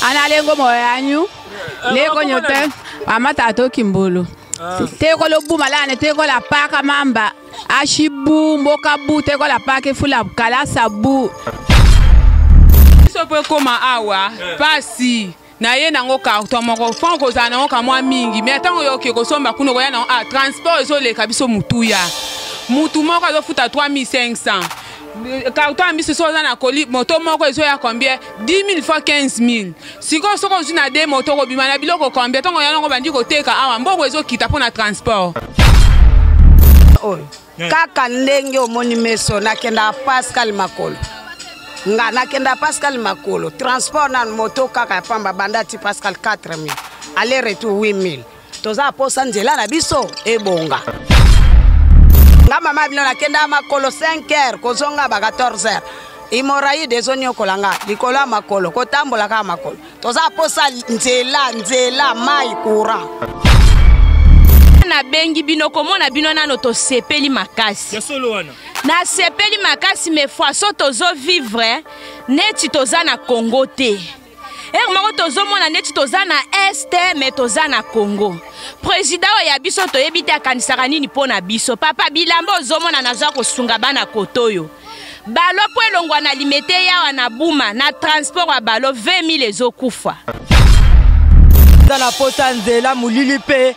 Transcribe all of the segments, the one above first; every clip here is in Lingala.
ana lengo moyo yanyu leko nyote amata atoki mbulu ah. teko lobuma lane teko la paka mamba ashibu mboka bu teko la paka fula kala sabu sopo ekoma awa eh. pasi naye nango carton moko fon kozala nango kamwa mingi me ntango yoki kosomba kuna okoya nango a ah, transport ezoleka biso motuya motu moko azofuta 3500 carton ya miso so oza na koli moto moko ezoya combien 10000 fois 15000 sikoyo soki ozwi na de moto okobima na biloko combien ntongo yango obandi koteka awa mbongo ezokita mpo na transport oyo kaka ndenge omoni meso nakendaka pascal makolo nga nakenda pascal makolo transport na moto kaka ya pamba banda ti pascal 4000 aller retour 8000 toza posa nzela na biso ebonga nga mama bino nakenda makolo 5 heures kozonga ba 14 heures imoraide ezoniokola nga likolo ya makolo kotambola kaka makolo toza posa nzela nzela mai courant nabengi bino komona bino nano tosepeli makasi nasepeli makasi me faso tozovivre neti toza na congo te ere moko tozomona neti toza na este me toza na congo président oyo ya biso toyebi te akanisaka nini mpo na biso papa bilamba ozomona naza kosunga bana koto oyo balo mpo elongwa na limete yawa na buma na transport ya balo 20 000 ezokufa na posa nzela molili mpe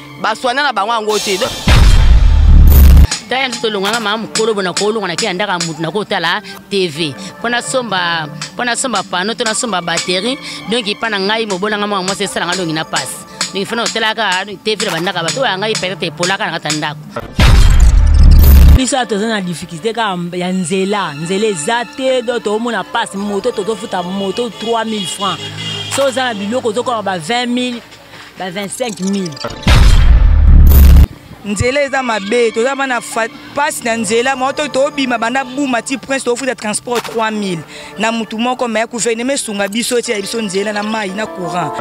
baswana na bango yango te tala biso tolonganga mama mokolo bona kolonga na kila ndaka motu nakotala tv mpo nasomba mpo nasomba pano to nasomba batterie donk epa na ngai mobola ngai mwana mwasi esalanga donki na pasi donki fana otalaka tv na bandaka bato oya ngai peut-être epolaka na kata ndako biso ya toza na difficulté kaka ya nzela nzela eza te do toomona pasi moto tozofuta moto 3000 francs so oza na biloko ozokoka ba 20 000 ba 25000 nzela eza mabe toza bana mpasi na nzela moko to tobima banda buma ti prince tofuta transport 3000 na motu moko me guvernema esunga biso etyela biso nzela na mai na courant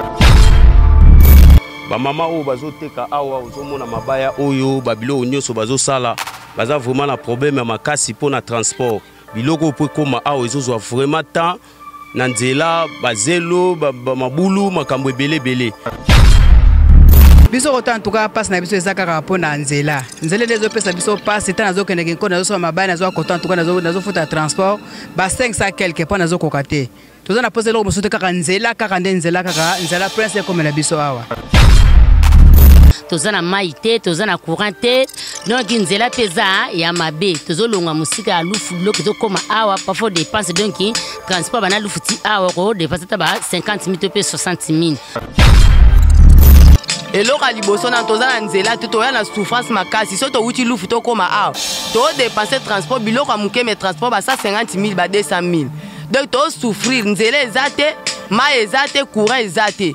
bamama oyo bazoteka awa ozomona mabaya oyo babiloko nyonso bazosala baza vraiment na problème ya makasi mpo na transport biloko oyo mpo ekóma awa ezozwa vraiment temps na nzela bazelo ba, ba, mabulu makambo ebele ebele biso kota ntuka mpasi na biso eza kaka mpo na nzela nzela nde ezopesa biso mpasi ntango nazokendeke nko nazosoma mabali nazwa kota ntuka nazofuta transport ba 500 quelque mpo nazokoka te toza na mposa eloko mosusu te kaka nzela kaka nde nzela kaka nzela prince ekomela biso awa toza na mai te toza na courant te donc nzela mpe eza ya mabe tozolonga mosika ya lufu biloko ezokóma awa pafo dépense donc transport bana lufu ti awa okodepense ata ba 50 mil to mpe 60 mil eloko ya liboso nano toza na nzela te toya na souffrance makasi so towuti lufu tokóma awa todepense transport biloko ya moke me transport ba 150 mil ba 200 mil donc tosouffrir nzela eza te mai eza te courant eza te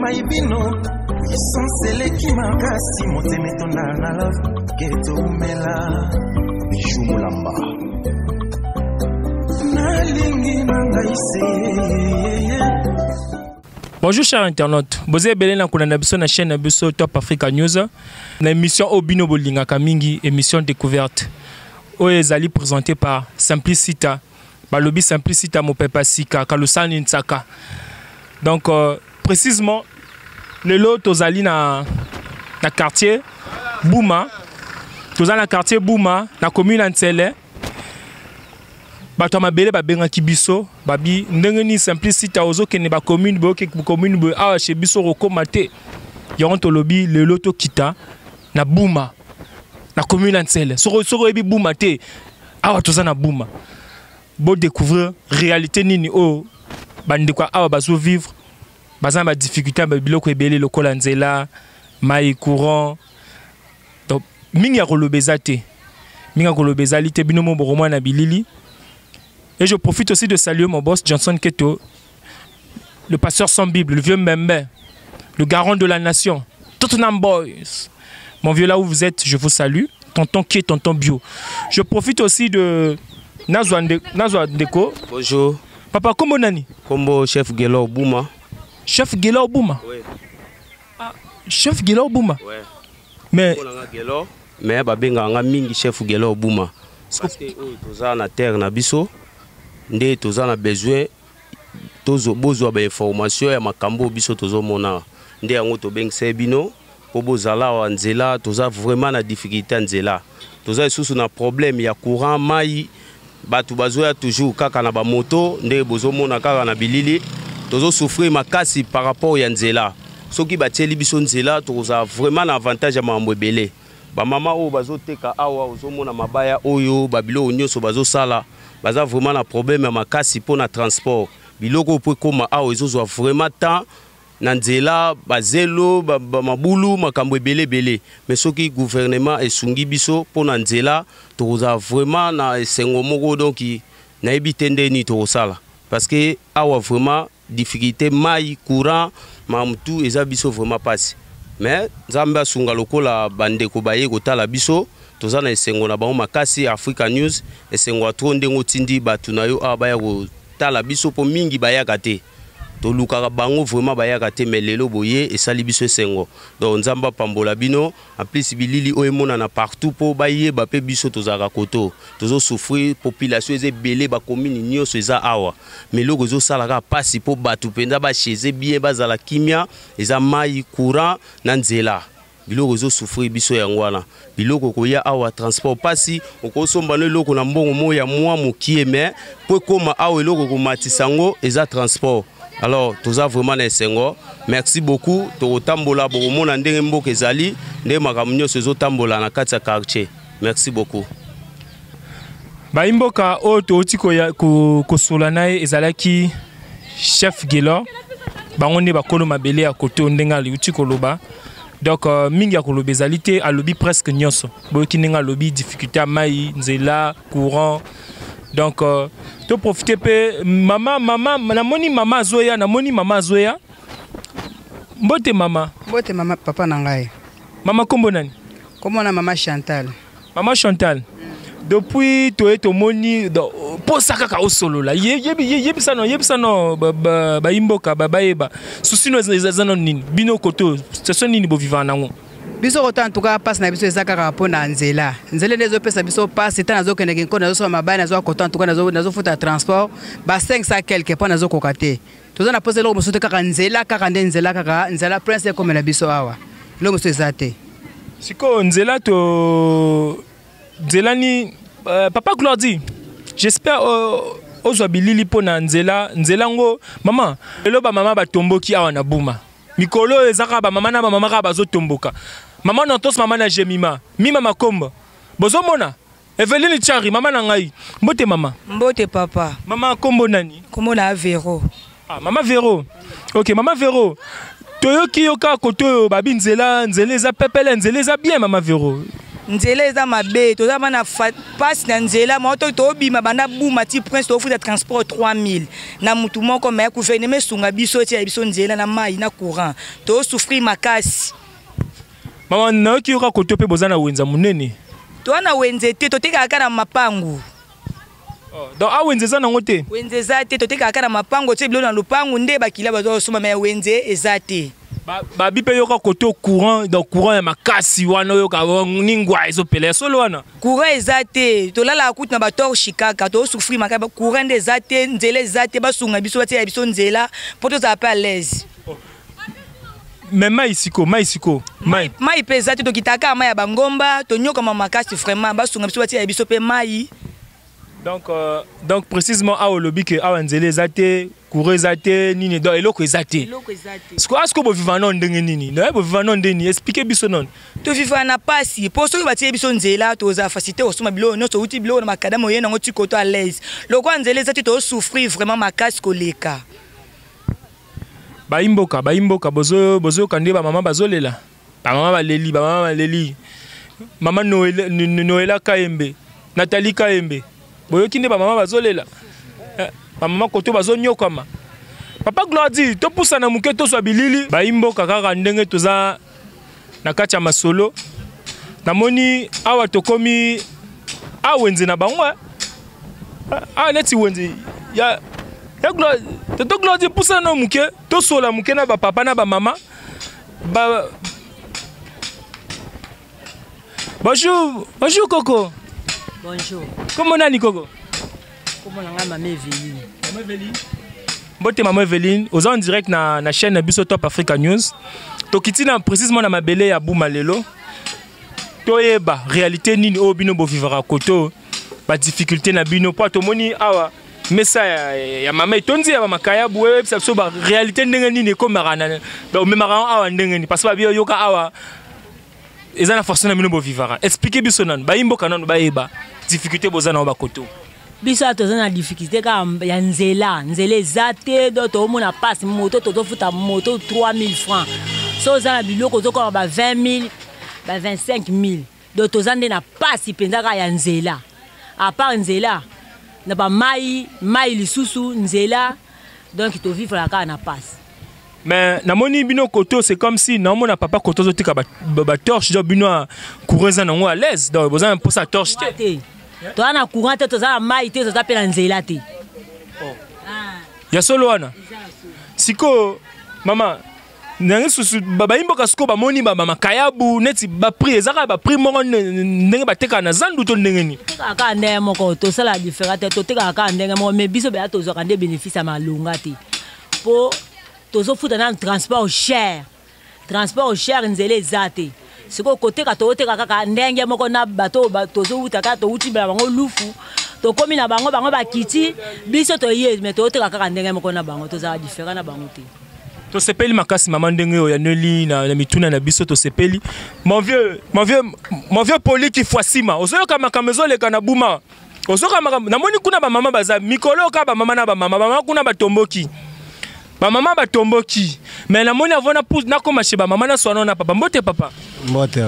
mai bino puissance eleki makasi motema etonda na love ketomela bijou molamba nalingi na ngai se Bonjour chers internautes, boza ebele na kolanda biso na chaîne na biso Top Africa News na émission oyo bino bolingaka mingi émission découverte oyo ezali présentée par Simplicita balobi simplicita mopepa sika kalusani nsaka donc euh, précisement lelo tozali na, na quartier buma toza na quartier buma na commune ya nsele bato ya mabele babengaki biso babi ndenge nini simplicita ozokende bacommune boyoke commune boye awa chez biso okokoma te yango tolobi lelo tokita na buma na commune ya nsele soko oyebi buma te awa toza na buma bo découvrir réalité nini oyo bandeko ya awa bazo vivre baza na badifficulté ya biloko ebele lokola nzela mai courant donc mingi ya koloba eza te mingi ya koloba ezali te bino mo bokomona na bilili et je profite aussi de saluer mon boss johnson keto le pasteur sans Bible, le vieux Mbembe, le garant de la nation, Tottenham Boys. Mon vieux, là où vous êtes, je vous salue. Tonton qui est tonton bio. Je profite aussi de Nazwa Ndeko. Bonjour. Papa, comment nani Combo chef Gelo Bouma. Chef Gelo Bouma Oui. Ah, chef Gelo Bouma Oui. Mais. Gelo. Mais babenga nga mingi chef Gelo Bouma. Parce que oh, toza na terre na biso. Nde toza na besoin tozo bozwa ba information ya makambo biso tozo mona nde yango tobengisa bino po bozala awa nzela toza vraiment na difficulté ya nzela toza lisusu na problème ya courant mai bato bazoya toujours kaka na bamoto ndenge bozomona kaka na bilili tozosouffrir makasi par rapport ya nzela soki batieli biso nzela tokozala vraiment na avantage ya makambo ebele Ba mama oyo bazoteka awa ozomona mabaya oyo babiloko nyonso bazosala baza vraiment na problème ya makasi mpo na transport biloko oyo mpo ekoma awa ezozwa vraiment temps na nzela bazelo ba, ba mabulu makambo ebele ebele mais soki gouvernement esungi biso mpo na nzela tokozala vraiment na esengo moko donc nayebi te nde nini tokosala parce que awa vraiment difficulté mai courant makambo tu eza biso vraiment mpasi mais nzambe asunga lokola bandeko baye kotala biso toza na esengo na bango makasi africa news esengo ya tro ndenge otindi bato na yo awa baya kotala biso mpo mingi bayaka te tolukaka bango vraiment bayaka te mais lelo boye esali biso esengo donc nzambe apambola bino En plus bilili oyo emonana partout mpo bayeba mpe biso tozalaka koto tozo souffrir population eza ebele bakomini nyonso eza awa mais eloko ezosala kaka mpasi mpo bato mpenza bacheze bien bazala kimia eza mai courant na nzela biloko ezosouffrir biso yango wana biloko koya awa transport mpasi okosomba no eloko na mbongo moko ya mwa mokie mais mpo ekóma awa eloko ekomatisa yango eza transport alors toza vraiment na esengo merci beaucoup tokotambola bokomona ndenge mboka ezali ndenge makambo nyonso ezotambola na kati ya quartier merci beaucoup bayimboka oyo touti kosola na ye ezalaki chef gelor bango nde bakolo mabele ya koto ndenge aliuti koloba donc euh, mingi ya koloba ezali te alobi presque nyonso boyoki ndenge alobi difficulté ya mai nzela courant donc euh, to profiter pe mama mama namoni mama azoya namoni mama azoya mbote mama mbote mama papa na ngai mama kombo nani kombo na mama chantal mama chantal mm. depuis toye tomoni posa kaka osolola yebisa no yebisa no bayimboka bayeba susino eza no nini bino koto station nini bovivaka nango biso kota ntuka mpasi na biso eza kaka mpo na nzela nzela nde ezopesa biso mpasi ntango nazokendeke nko nazosala mabaya nazwa kota ntuka nazofuta transport ba 500 quelque mpo nazokoka te toza na mposa eloko mosusu te kaka nzela kaka nde nzela kaka nzela prince ekomela biso awa eloko mosusu eza te sikoyo nzela to nzela ni uh, papa glordi j'espère uh, ozwa bilili mpo na nzela nzela yango mama lelo bamama batomboki awa na buma mikolo oyo eza kaka bamama na bamama kaka bazotomboka mama nantos mama na jemima mima makomba bozomona eveline chari mama na ngai mbote mama mbote papa mama kombo nani kombo na vero ah, mama vero ok mama vero toyoki yo kaka kote oyo babi nzela nzela eza pepele nzela eza bien mama vero nzela eza mabe toza bana mpasi na nzela moko tobima banda buma ti prince tofuta transport 3000 na mutu moko mais gouvernement esunga biso etia biso nzela na mai na courant to souffrir makasi mama nayoki yoka koto mpe boza na wenza monene toa na wenze te totekaka kaka na mapangu oh, donc a ah, wenze eza nango te wenze eza te totekaka kaka na mapangu otie biloko na lopangu nde bakila baza kosomba mai wenze eza te babi mpe yoka kote courant donc courant ya makasi wana oyoka oh, ningwa ezopela ya solo wana courant eza te tolalaka kutu na batorshi kaka tosufri maka courant nde eza te nzela eza te basunga biso batiela biso nzela mpo tozala mpe alaise oh. me mai siko mai siko mai mai mpe eza te tokitaka mai ya bangomba tonyokama makasi vraiment basunga biso batiela biso mpe mai donc euh, donc précisément awa olobi ke awa nzela eza te courant eza te nini donc eloko eza te siko asiko boviva nano ndenge nini naye boviva nano ndeni explike biso nano toviva na pasi mpo soki batie biso nzela toza facilité kosomba biloko nyonso outi biloko na makadama oye nango ti koto alaise lokola nzela eza te tosouffrir vraiment makasi koleka bayimboka bayimboka bozoyoka nde bamama bazolela ba mama baleli ba mama baleli mama noela, noela kayembe natali kayembe boyoki nde bamama bazolela eh, bamama koto bazonyokwama papa glordi topusana moke tozwa bilili bayimboka kaka ndenge toza na kati ya masolo namoni awa tokomi a wenze na bango eh. a neti wenze ya toto glordi pusana na moke tosola moke na bapapa na bamama Ba... Bonjour, bonjour Coco. Bonjour. Comment on a Coco Comment on a Maman Evelyne Maman Evelyne Mbote Maman Evelyne, aux en direct na, na chaîne Biso Top Africa News. Tokiti na précisément na mabele ya Boumalelo. Toyeba réalité nini oyo bino bovivaka koto ba difficulté na bino po tomoni awa mesa ya, ya mama etondi ya bamakayabu oyebisa biso ba réalité ndenge nini ekomaka na omemaka yango awa ndenge nini parce babi oyoka awa eza na façon na bino bovivaka explike biso nanu bayimboka nanu bayeba difficulté boza nango bakoto biso awa toza na difficulté kaka ya nzela nzela eza te do toomona mpasi moto tozofuta moto 3000 francs so oza na biloko ozokoma ba 20 000 ba 25 000 donc toza nde na pasi mpenza kaka ya nzela apart nzela na bamai mai lisusu nzela donc tovivaka kaka na pasi mais namoni bino koto c'est comme si naomona papa koto azotika batorche donc bino courant eza nango à l'aise donc boza na mposa ya torche te toza na courant te toza na mai te toza mpe na nzela te oh. ah. ya solo wana sikoyo mama ndenge susu bayi mboka sikoyo bamoni bamakayabu neti baprix eza kaka baprix moko ndenge batekaka na zandu to ndenge nini totekaka kaka ndenge moko tosalaka diferent te totekaka kaka ndenge moko mai biso beya tozwaka nde bénéfice ya malonga te mpo tozofuta nanu transport cher transport cher nzela eza te sikoyo koteka toteka kaka ndenge moko na bato oyo tozowuta kaka towuti na bango lufu tokomi na bango bango bakiti biso toye me toteka kaka ndenge moko na bango tozala diferent na bango te tosepeli makasi mama ndenge oyo yaneli na, na mituna na biso tosepeli mon vieux mon vieux mon vieux poli kifuasima ozoyoka makambo ezoleka na buma ozoyoka makambo namoni kuna bamama baza mikolo oyoka bamama na bamama bamama kuna batomboki Ba maman ba tomboki. Mais na moni avona pousse na koma chez ba maman na soano na papa. Mbote papa. Mbote.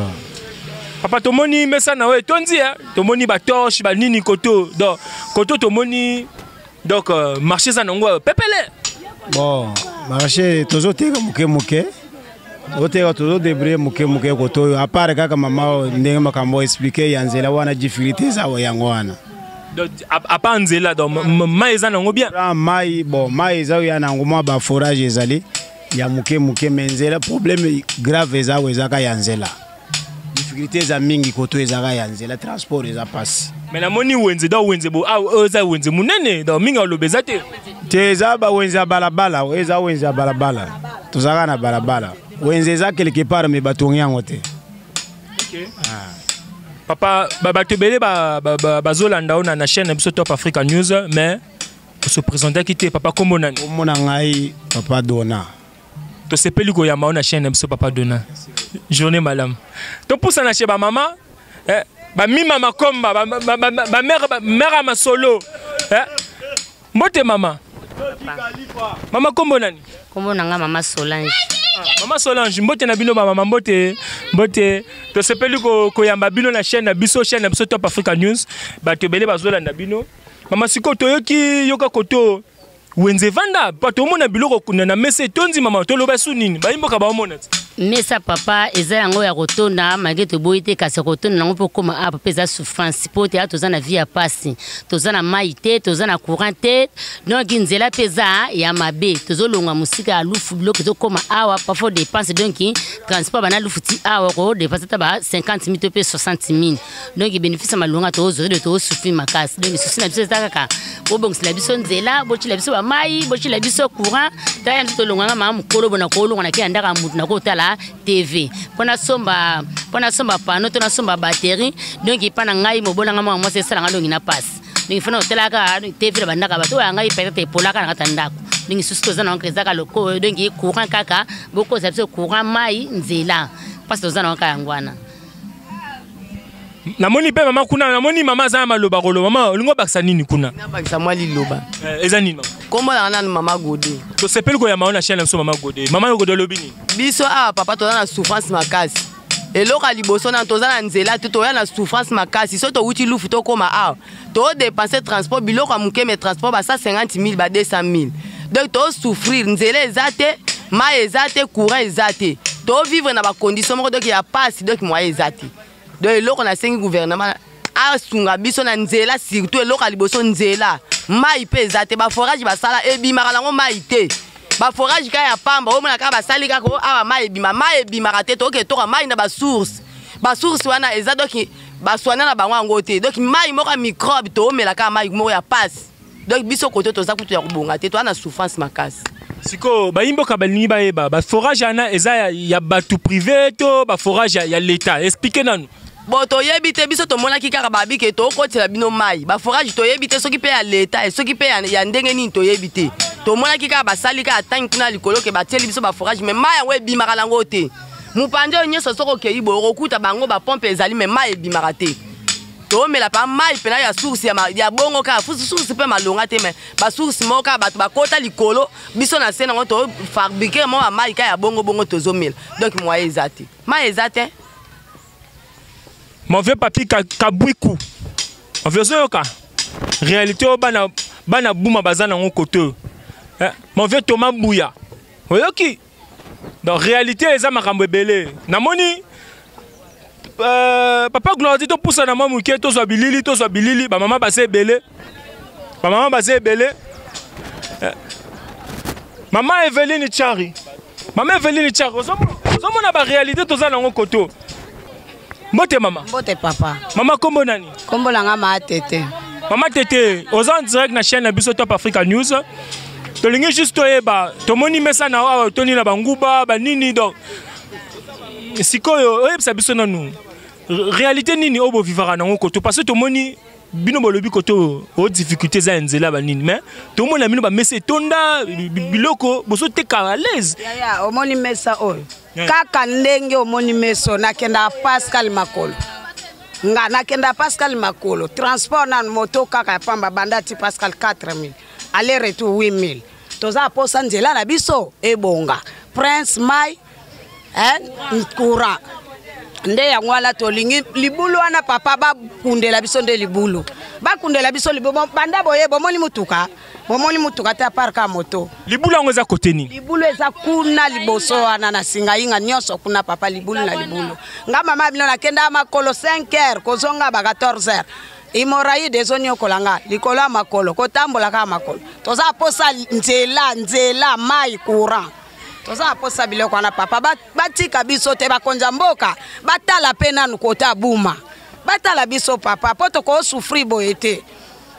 Papa tomoni mesa na we tondi hein. Tomoni ba torche ba nini koto. Donc koto tomoni donc euh, marché za nango euh, pepele. Bon, marché tozo teka muke muke. oteka tozo debrie moke moke koto oyo apart kaka mama ndenge makambo explike ya nzela wana difficulté eza yango wana apa nzela donc mai eza nango bien ah, mai bon mai eza oya nango mwa baforage ezali ya moke moke me nzela problème grave eza oyo ezaka ya nzela difficulté eza mingi koto ezaka ya nzela transport eza pasi mais namoni wenze donc wenze bo ah, oyo eza wenze monene donc mingi aloba eza te te eza bawenze ya balabala oyo eza wenze ya balabala tozalaka na balabala wenze eza quelque part me batongi yango te okay. ah. papa bato ebele bazolanda oyo na chaîne na biso top africa news mais osepresentaki te papa kombo nani omona ngai papa dona tosepeli koyamba yo na chaîne na biso papa dona journée malamu topusana chez bamama eh, bamima makomba bamere ya masolo eh, mbote mama mama nkombo nani nkombo na ngai mama solange ah, mama solange mbote na bino bamama mbote mbote tosepeli koyamba bino na chaîne na biso chaîne na biso top africa news bato ebele bazolanda bino mama sikoyo toyoki yoka koto wenze vanda bato omona biloko kuna na mesa etondi mama toloba su nini bayimboka baomona ti mesa papa eza yango ya kotonda malgre toboyi te kasi ya kotonda yango mpo okoma apo mpe eza souffrance mpo te toza na vie ya mpasi toza na mai te toza na courant te donc nzela mpe eza ya mabe tozolonga mosika ya lufu biloko ezokoma awa pafo dépense donc transport bana lufu ti awa okodepense ata ba 50 mil to mpe 60 mil donc ebenefisi ya malonga tozwa de tosufri makasi donc susi na biso eza kaka bobongisela biso nzela botyela biso bamai botyela biso courant tala biso tolonganga maa mokolo bona kolonga na kenda ndaka motu nakotala tv mpo nasomba mpo nasomba pano to nasomba batterie donc epa na ngai mobolanga mwana mwasi esalanga dongi na pasi donc fana otalaka tv na bandaka bato oyo ya ngai peut-être epolaka na kata ndako ndenge susi toza na yango ezaka lokoyo donki courant kaka bokozala biso courant mai nzela mpasi toza na yango kaka yango wana namoni mpe mama kuna namoni mama aza na maloba koloba mama olingi obakisa nini kuna nabakisa mwa liloba eh, eza nini mama nkombo nanga nanu mama gode tosepeli koyamba yo na chaine na biso mama gode mama yo gode olobi nini biso awa ah, papa toza na souffrance makasi eloko ya liboso nanu toza na nzela te toya na souffrance makasi soki towuti lufu tokóma awa ah. to dépenser transport biloko ya moke mais transport ba 150 000 ba 200 000 donc to souffrir nzela eza te mai eza te courant eza te to vivre na ba condition moko donc ya passe donc moyen eza te donc eloko nasengi gouvernement asunga biso na nzela surtout eloko ya liboso nzela mai mpe eza te baforage basala ebimaka nango mai te baforage kaka ya pamba omona kaka basali kaka awa mai ebima mai ebimaka te toke toka mai na basource basource wana eza doki baswana na bango yango te donc mai moko ya microbe toomela kaka mai moko ya pasi donc biso koto toza kutu ya kobonga te toza na souffrance makasi sikoyo bayimboka balingi bayeba baforage wana eza ya, ya bato privé to baforage ya, ya leta explike nanu bo toyebi te biso tomonaki kaka babi ke tokotela bino mai baforage toyebi te soki mpe ya leta eh, soki mpe ya, ya ndenge nini toyebi te tomonaki kaka basali kaka ntangi kuna likolo ke batieli biso baforage mai mai yango ebimaka nango te mopandi oyo nyonso soki okei boye okokuta bango bapompe ezali me mai ebimaka te toomela mpa mai mpena ya source ya, ya bongo kaka source mpe malonga te me basource moko kaka bato bakota likolo biso na se nango tofabrike mwa bamai kaka ya bongo bongo tozomela donk moye eza te mai eza te mon vieux papi kabwiku mon vieux ozoyoka réalité oyo bana bana buma baza nango kote oyo eh, mon vieux thomas buya oyoki donc réalité eza makambo ebele namoni euh, papa gloradi topusana mwa moke tozwa bilili tozwa bilili bamama baza ebele bamama baza ebele eh. mama eveline chari mama eveline chari ozomona baréalité toza nango koto mbote mama mbote papa mama kombo nani kombo na nga maa tete mama tete oza en direct na chaîne na biso top africa news tolingi juste toyeba tomoni mesa na awa otoni na banguba banini donc sikoyo oyebisa biso nanu réalité nini oyo bovivaka nango koto parce que tomoni bino bolobi kote oyo o difficulté eza ya nzela banini mais tomona bino bamesa etonda biloko bozoteka alaise omoni mesa oyo eh. kaka ndenge omoni meso nakendaka pascal makolo nga nakendaka pascal makolo transport nanu moto kaka ya pamba banda ti pascal 4000 aller retour 8000 toza posa nzela na biso ebonga prince mai eh, courant nde yango wana tolingi libulu wana papa bakundela biso nde libulu bakundela biso libulu banda boye bomoni motuka bomoni motuka te apart ka moto libulu yango eza kote nini libulu eza kuna liboso wana na singayinga nyonso kuna papa libulu na libulu nga mama bino nakenda makolo 5 heures kozonga ba 14 heures imoraide ezoniokola nga likolo ya makolo kotambola kaka makolo toza posa nzela nzela mai courant toza posa biloko wana papa batika biso te bakonza mboka batala mpe nanu kota buma batala biso papa mpo tokosufri boye te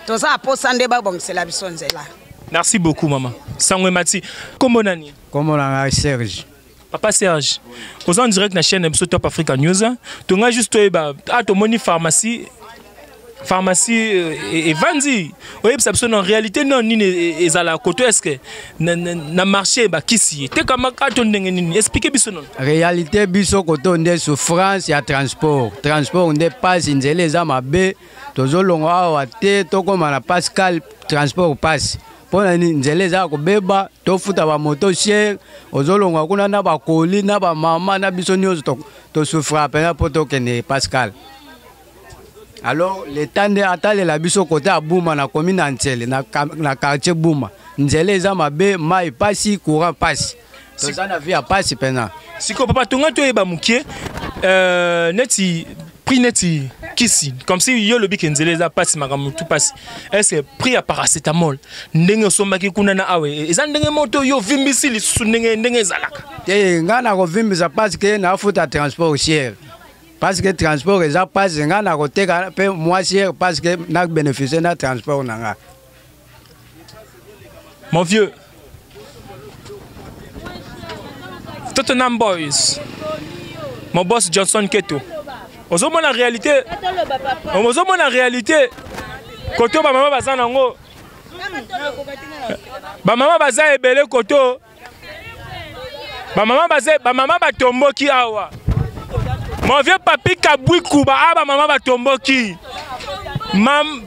toza na posa nde babongisela biso nzela merci beaucoup mama sango emati nkombo nani nkombo na ngai serge papa serge oza en direct na chaîne na biso top africa news tongai juste toyeba a ah, tomoni pharmacie pharmacie euh, evandi oyebisa biso na réalité nao nini e, e, ezala koto eske na marché bakisi ye tekamaka ah, to ndenge nini explike biso nono réalité biso koto nde souffrance ya transport transport nde mpasi nzela eza mabe tozolongo awa te tokóma na pascal transport passe mpo na nini nzela eza ya kobeba tofuta bamoto sier ozolonga kuna na bakoli na bamama na biso nyonso tosufraka mpenza mpo tokende pascal alors leta nde atalela biso kote ya buma na komi na nsele na quartier buma nzela eza mabe mai mpasi courant mpasi toza na vie ya pasi mpenza sikoyo papa tonga toyeba mokie euh, neti prix neti kisi comme si yo olobi ke nzela eza mpasi makambo tu mpasi estce prix ya paracetamol ndenge osombaki kuna na awa e, eza ndenge moto yo ovimbisi lisusu ndenge ndenge ezalaka te eh, ngai nakovimbisa parce ke nafuta transport osier parce que transport eza mpasi ngai nakoteka mpe mwasier parce que na bénéficie na transport na ngai Mon vieux. Tottenham Boys. Mon boss Johnson Keto. ozomona réalité ozomona réalité koto bamama baza nango bamama baza ebele koto bamama baze bamama batomboki awa mon vieux papi kabwi kuba a bamama batomboki Mam...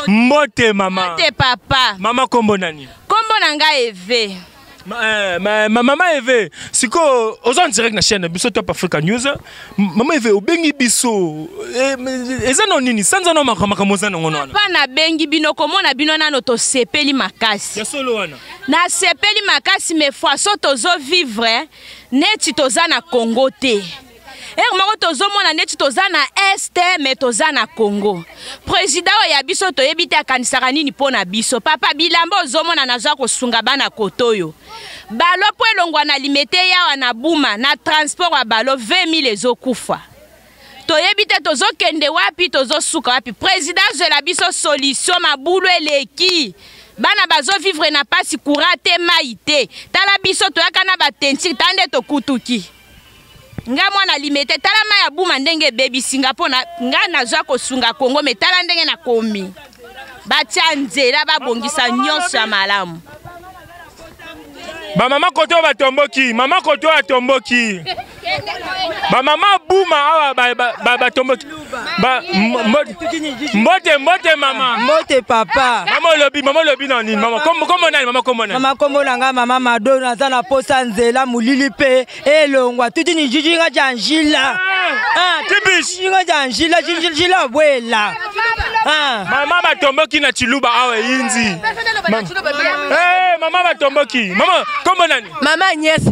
mbote mama mbote papa mama nkombo nani nkombo na ngai eve ma, eh, ma, ma, mama eve sikoyo oza en direct na chaîne biso top africa news Mama Eve obengi biso eh, eza na nini sanza na makambo eza nango wana pa nabengi bino komona bino nano tosepeli makasi ya solo wana nasepeli makasi mais façon tozo vivre neti toza na Congo te ere moko tozomona neti toza na este me toza na congo président oyo ya biso toyebi te akanisaka nini mpo na biso papa bilamba ozomona naza kosunga bana koto oyo balo mpo elongwa na limete yawa na buma na transport ya balo 20 000 ezokufa toyebi te tozokende wapi tozosuka wapi président azwela biso solution mabulu eleki bana bazovivre na mpasi kura te mai te tala biso toyaka na batentire ta nde tokutuki nga mwana limete tala mai ya buma ndenge ebebisi nga mpo na nga nazwa kosunga kongo me tala ndenge nakomi batya nzela babongisa nyonso ya malamu bamama kote oyo batomboki mama kote oyo atomboki bamama buma awa batomboki ba, ba, ba, ba mbote mbote mama mbote papa mama olobi mama olobi na nini mama kombo kombo nani mama kombo nani mama kombo na ngai mama mado naza na posa nzela molili mpe elongwa tuti ni jijinga ja njila jijinga ah. ah, ja njila jinjila bwela ah. mama batomboki na chiluba awa eyinzi mama batomboki mama kombo nani mama nyesi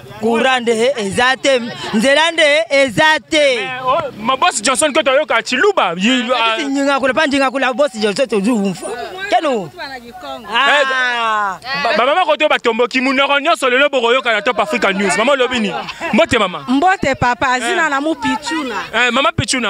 kura nde eza te nzela nde eza te mabosi johnson ke toyoka ciluba njingakula mpa njingakula bosi johnson tozumfa keno bamama koto batomboki monoko nyonso lelo bokoyoka na top africa news mama olobi nini mbote mama mbote papa zina na mo pichuna mama pichuna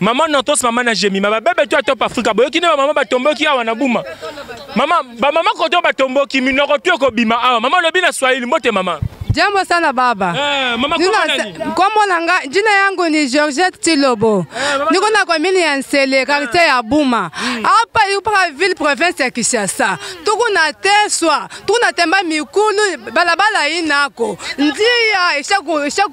Maman Notos, maman na Jemima, ba bebe toi top Africa. Boyoki ne ba maman ba tomboki awa na Buma. Maman, ba maman koto ba tomboki minoko tu ko bima awa. Maman lobi na Swahili mbote maman. Jambo sana baba. Eh, mama kombo nani? Kombo na nga, jina yangu ni Georgette Tilobo. Eh, mama... Niko na komini ya Nsele, eh. quartier eh. ya Buma. Mm. Hapa yuko pa ville province ya Kinshasa. Tuko na Teswa, tuko na Temba Mikulu, balabala inako. Ndia ishaku ishaku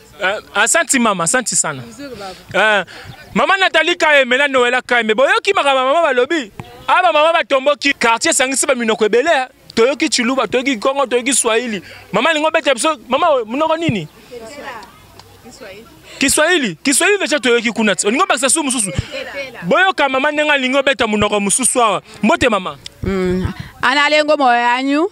Uh, asanti mama asanti sana uh, mama natali kaeme na noela kaeme boyoki makambo mama balobi aba ah, mama batomboki quartier esangisi baminoko ebele eh. toyoki chiluba toyoki kongo toyoki swahili mama alingi obeta biso mama monoko nini kiswahili kiswahili deja toyoki kuna ti olingi obakisa su mosusu boyoka mama ndenge alingi obeta monoko mosusu awa mbote mama mm. analengo moyanyu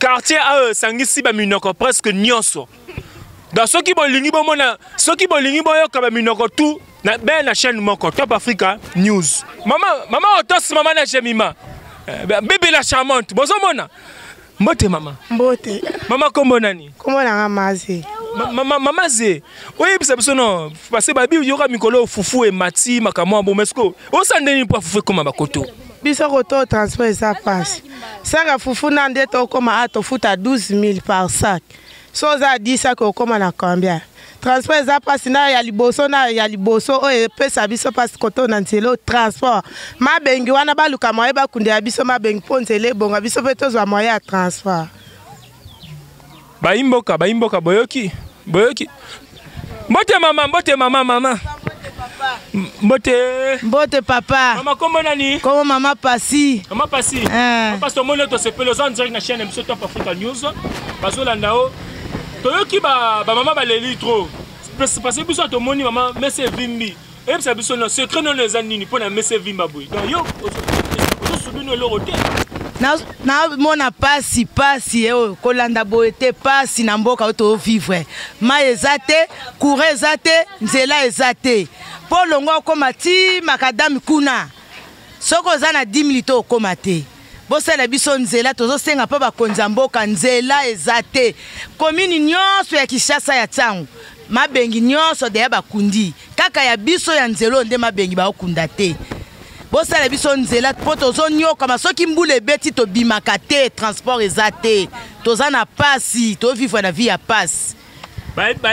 quartier ayo esangisi baminoko presque nyonso donc soki bolingi bomona soki bolingi boyoka baminoko tu na bee na chaîne moko top africa news mama mama otos mama na jemima eh, bebe la charmante bozomona mbote mama mbote mama kombo nani kombo nanga maze mama ze oyebisa biso no parce babi yoka mikolo fufu emati makambo ya bomesko osandeni mpo afufu ekoma bakoto biso koto transport eza pasi saka fufu na nde tokoma a tofuta 12 000 par sac so oza ya 10 sac okoma na combien transport eza mpasi na ya liboso na ya liboso oyo epesa biso mpasi koto na nzela oyo transport mabengi wana baluka moye bakundela biso mabengi mpo nzela ebonga biso mpe tozwa moye ya transport Bayimboka, bayimboka, boyoki, boyoki. Mbote mama, mbote mama, mama. Mbote. Mbote papa. Mama kombo nani? Kombo mama Pasi. Mama Pasi. Eh. Papa tomoni to sepelo oza en direct na chaîne biso Top Africa News. Bazolanda yo. Toyoki ba ba mama baleli trop. Parce que biso tomoni mama messe evimbi. oyebisa biso na secret nono eza nini mpo na mese vimba boye donc yo ozosubino eloko te namona pasi pasi eh, oyo kolanda boye te pasi na mboka oyo tovivre mai eza te courant eza te nzela eza te mpo olongo okoma ti makadame kuna soki oza na 10 minute okoma te bosala biso nzela tozosenga mpo bakonzi ya mboka nzela eza te komini nyonso ya kinshasa ya ntango mabengi nyonso deya bakundi kaka ya biso ya nzela oyo nde mabengi baokunda te bosala biso nzela mpo tozonyokama soki mbula ebeti tobimaka te transport eza te toza na pasi tovivre na vie ya pasi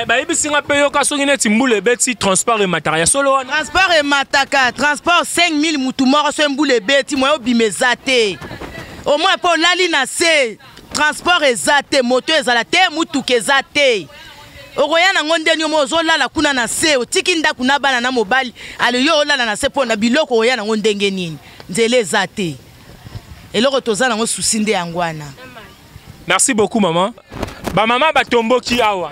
bayebisi nga mpe yoka soki neti mbula ebeti transport emataka ya solo wana transport emataka transport 5000 mutu moko soki mbula ebeti moya obima eza te omoi mpo olali na se transport eza te moto ezala te motuka eza te okoya nango ndeni yomo ozolala kuna na se otiki ndako na bana na mobali aloyo olala na se mpo na biloko okoya nango ndenge nini nzela eza te eloko toza nango susi nde yango wana merci beaucoup maman bamama batomboki awa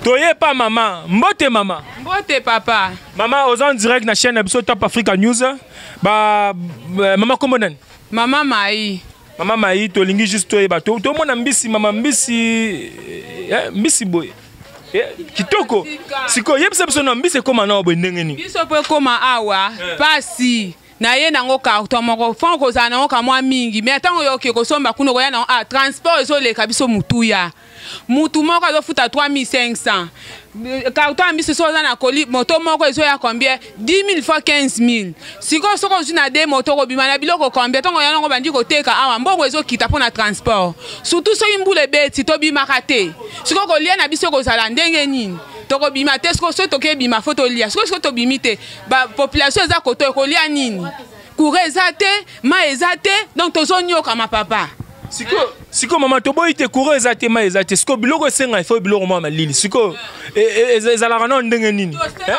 toye pa mama mbote mama mbote papa mama oza en direct na chaîne na biso top africa news ba, ba mama kombo nani mama mai mama mai tolingi juste toyeba tomona mbisi mama mbisi eh, mbisi boye Eh, kitoko sikoyo yebisa biso na mbisi ekóma na oyo boye ndenge nini biso mpo ekóma awa mpasi eh. naye nango carton moko fo kozala nango kamwa mingi me ntango yo oke kosomba kuna okoya nango ah, transport ezoleka biso motuya mutu moko azofuta 3500 carton ya mbisi soki oza na koli moto moko ezoya combien 10000 fois 15000 sikoyo soki ozwi na de moto okobima na biloko combien ntongo yango bandi koteka awa mbongo ezokita mpo na transport surtout soki mbula ebeti tobimaka te sikoyo kolia na biso ekozala ndenge nini tokobima te soki tokebima fo tolia soki soki tobimi te ba population eza koto ekolia nini courant eza te mai eza te donc tozonyokama papa sikoyo sikoyo mama toboyi te courant eza te mai eza te sikoyo biloko esenga ifo biloko mwa malili sikoyo e, e, e, ezalaka nao ndenge nini eh?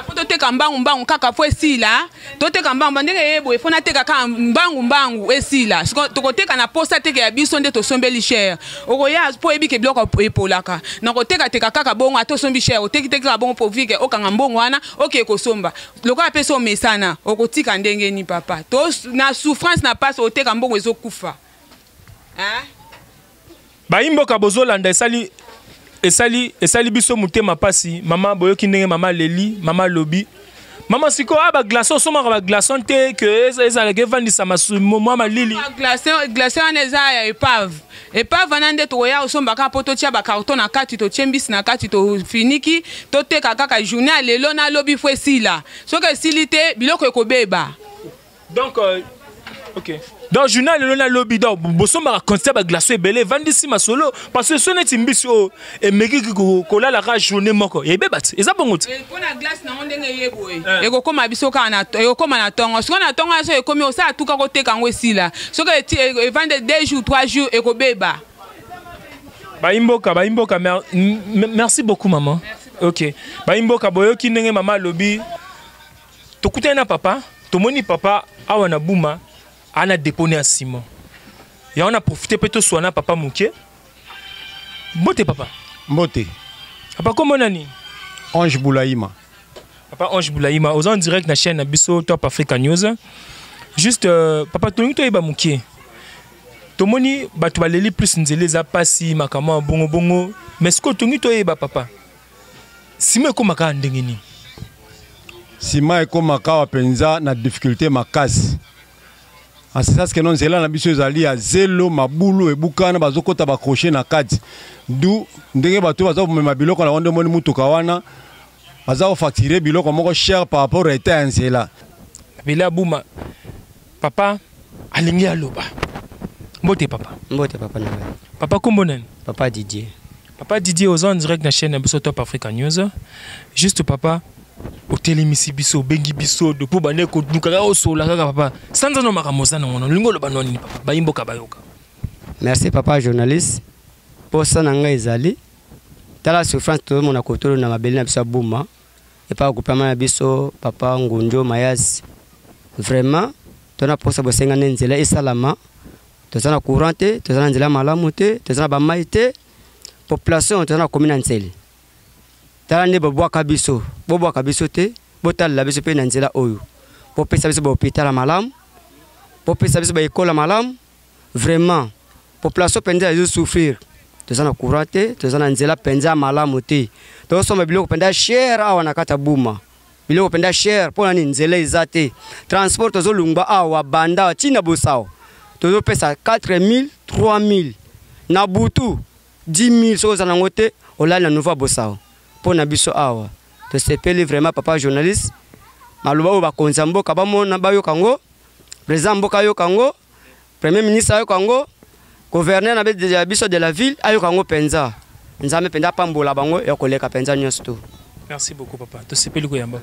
po toteka mbangu mbangu kaka po esila toteka mbangu ndenge eye boye po nateka kaka mbangu mbangu esila sikoyo tokoteka na posa teke ya biso nde tosombeli chere okoya po oyebi ke biloko epolaka nakotekateka kaka bongo ata osombi chere otekiteki kaka bongo po vike okanga mbongo wana oke kosomba lokola apesi omesana okotika ndenge ni papa to na souffrance na pasi oteka mbongo ezokufa bayimboka bozolanda esali esali esali biso motema pasi mama boyoki ndenge mama leli mama lobi mama sikoyo ah, baglace osomaka baglaçon te ke ezalaka evandisama mwa malili glacin wana eza ya epave Epa vana nde tokoya kosomba kaka mpo totia bakarton na kati totie mbisi na kati tofiniki toteka kaka journée ya lelo na lobi fo esila soki esili te biloko ekobeba donc euh, okay. donc journal lelo na lobi donc bosombaka constat baglace ebele evandisi masolo parce que so neti mbisi oyo oh, emeki kolala kaka journée moko ebeba ti eza bongo ti mpona eh, glace nango ndenge eye boye eh. ekokoma biso kaka ekokoma na ntongo sikoyo na ntongo nyonso ekomi osala tuka koteka yango esila soki e, evande e, deux jours trois jours ekobeba bayimboka bayimboka merci beaucoup maman ok bayimboka boyoki ndenge mama alobi tokutani na papa tomoni papa awa na buma ana depone ya nsima yango na profite mpe toswana papa moke Mbote papa. Mbote. Papa kombo nani? Ange Boulaima. Papa Ange Boulaima, aux en direct na chaîne biso Top Africa News. Juste euh, papa tolingi toyeba mukie. Tomoni bato baleli plus nzela eza pasi makambo ya bongo bongo mais sikoyo tolingi toyeba papa sima ekomaka awa ndenge nini sima ekomaka awa mpenza na difficulté makasi asisasi keno nzela na biso ezali ya zelo mabulu ebukana bazokota bakrochet na kati du ndenge bato baza komema biloko na yango nde omoni motuka wana baza kofaktire biloko moko cher par rapport ya etat ya nzela bele abuma papa alingi aloba mbote papa mbote papa na ngai papa kombo nani papa didier Papa Didier oza en direct na chaîne na biso Top Africa News. Juste papa otelemisi biso obengi biso de mpo bande koduka kaka osola kaka papa sanza no makambo oza nango nolingi oloba no nini papa bayimboka bayoka merci papa journaliste mposa na ngai ezali tala souffrance tozomona kotolo na mabele na biso ya buma epai akupama na biso papa ngunjo mayasi vraiment tona mposa bosengani nzela esalama toza na courant te toza na nzela malamu te toza na bamai te population toza na komi na nsele tala nde bobwaka biso bobwaka biso te botalela biso mpe na nzela oyo bopesa biso bahopitala malamu bopesa biso baekola malamu vraiment population mpenza ezo souffrir toza na courant te toza na nzela mpenza malamu te tozosomba biloko mpenza chere awa na kati ya buma biloko mpenza cher mpo na nini nzela eza te transport tozolungba awa banda ti na bosao tozopesa 4000 3000 na butu 10000 soki oza nango te olali na nouveau bosao mpo na biso awa tosepeli vraiment papa journaliste maloba oyo bakonzi ya mboka bamona bayoka yango président mboka ayoka yango premier ministre ayoka yango gouverneur na biso de la ville ayoka yango mpenza nzambe mpenza apambola bango ya koleka mpenza nyonso to merci beaucoup papa tosepeli koyamba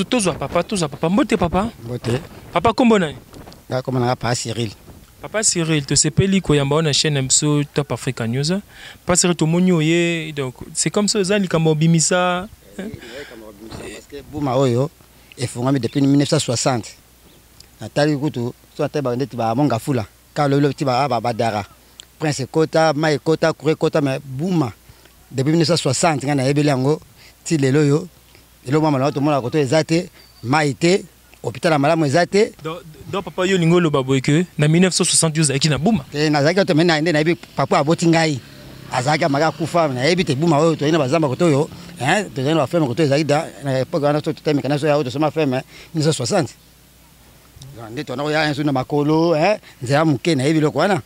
tozwa papa tozwa papa mbote papa mbote papa nkombo nani nakoma nanga papa cyril papa cyril tosepeli koyamba wana chaîne na biso top africa news papa cyril tomoni oye donc c'est comme ça oza likambo obimisa buma oyo efungwami depuis 1960 natali kutu so natali baka ndeti ba monga fula kaka lobi lobi ti ba ah, badara prince ekota mai ekota kura ekota me buma depuis 1960 ngai nayebeli yango ti lelo oyo eloko mwa malamu tomonaka koto eza te mai te hôpital ya malamu eza te don papa yo olingi oloba boye ke na 1960 ozalaki na buma eh, nazalaki oto me naye nde nayebi papa aboti ngai azalaki amaka akufa nayebi te buma oyo toyei na bazamba koto oyo tozali na bafeme koto ezalaki da na epoke wana so totemeka na so ya oyo tosoma feme 1960 nde twana koya nso na makolo eh, nzela moke nayebi biloko wana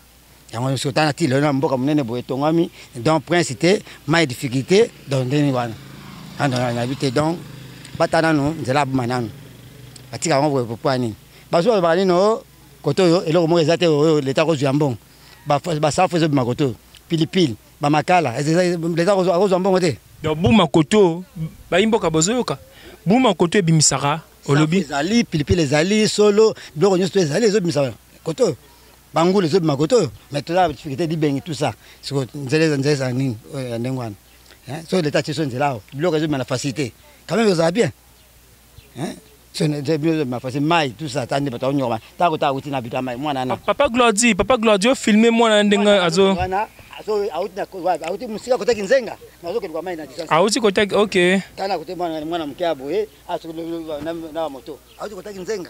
yango nyonso otana ti lelo na mboka monene boye etongami donc prince te mai difficulté donc ndeni wana nayebi te donc bata nanu nzela aboma nanu batika yango boye popo ya nini bazo balobaka nini o oh, kote oyo eloko moko eza te oyo oh, leta akozwa ya mbongo basafu ezobima kote oyo pilipili ba makala leta akozwa mbongo te donc buma koto bayi mboka bozoyoka buma koto ebimisaka olobi ezali pilipili ezali solo biloko nyonso to ezali ezobimisa koto oyo bangulu ezobima koto oyo mais toza difficulté libengi tout ça siko nzela eza nzela ezala nini oyo ya ndenge wana soki leta atie so nzela awa biloko ezobima na facilité quand même ezala bien hein mai tout ça tande bato aonyokama ntango ta auti na bito ya mai mwana na papa glodi papa glodi ofilme mwana na ndenge azo auti mosika kotaki nzenga nazokendwa mai na distance auti kotaki ok tana kote mwana moke ya boye na moto auti kotaki nzenga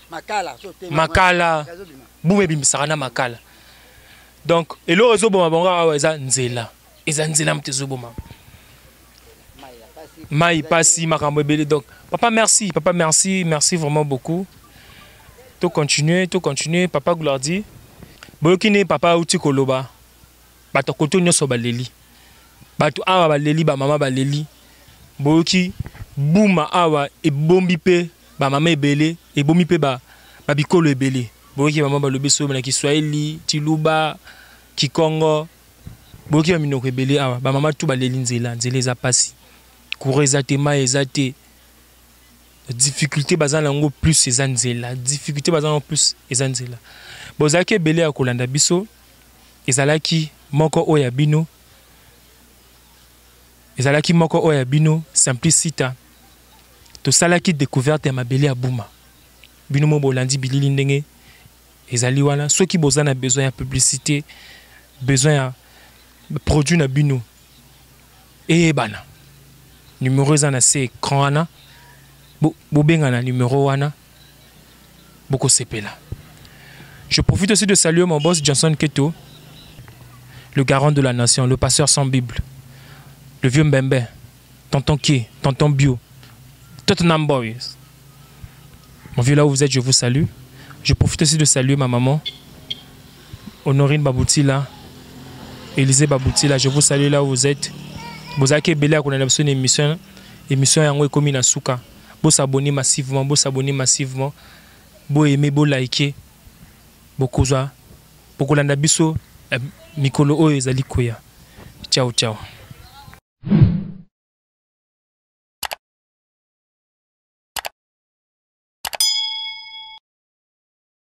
makala buma ebimisaka na makala donc eloko ezoboma bango awa eza nzela eza nzela moto ezoboma mai pasi makambo ebele donc papa merci papa merci merci vraiment beaucoup to continuer to continuer papa gloirdi boyoki nde papa auti koloba bato koto nyonso baleli bato awa baleli bamama baleli boyoki buma awa ebombi mpe ba mama ebele ebomi pe ba ba bikolo ebele boyoki mama balobi sobe na kiswahili tiluba kikongo boyoki baminoko ebele awa bamama tu baleli nzela nzela eza mpasi courant eza te mai eza te difficulté baza na yango plus eza nzela difficulté baza na yango plus eza nzela bozalaki ebele ya kolanda biso ezalaki moko oyo ya bino ezalaki moko oyo ya bino Simplicita. Tosalaki decouverte ya mabele ya Buma. Bino mo bolandi bilili ndenge ezali wana. Soki boza na besoin ya publicité, besoin ya produit na bino eyebana. Numero eza na se écran wana. Bo, bobenga na numero wana. boko sepela je profite aussi de saluer mon boss Johnson Keto le garant de la nation le pasteur sans bible le vieux Mbembe tonton Kie tonton Bio Tottenham Boys mon vieux là où vous êtes je vous salue je profite aussi de saluer ma maman Honorine Baboutila Élisée Baboutila je vous salue là où vous êtes bozalaki ebele ya kolanda biso na émission émission yango ekomi na suka Bo s'abonner massivement bo s'abonner massivement bo aimer bo liker bokozwa bokolanda biso na mikolo oyo ezali koya ciao ciao.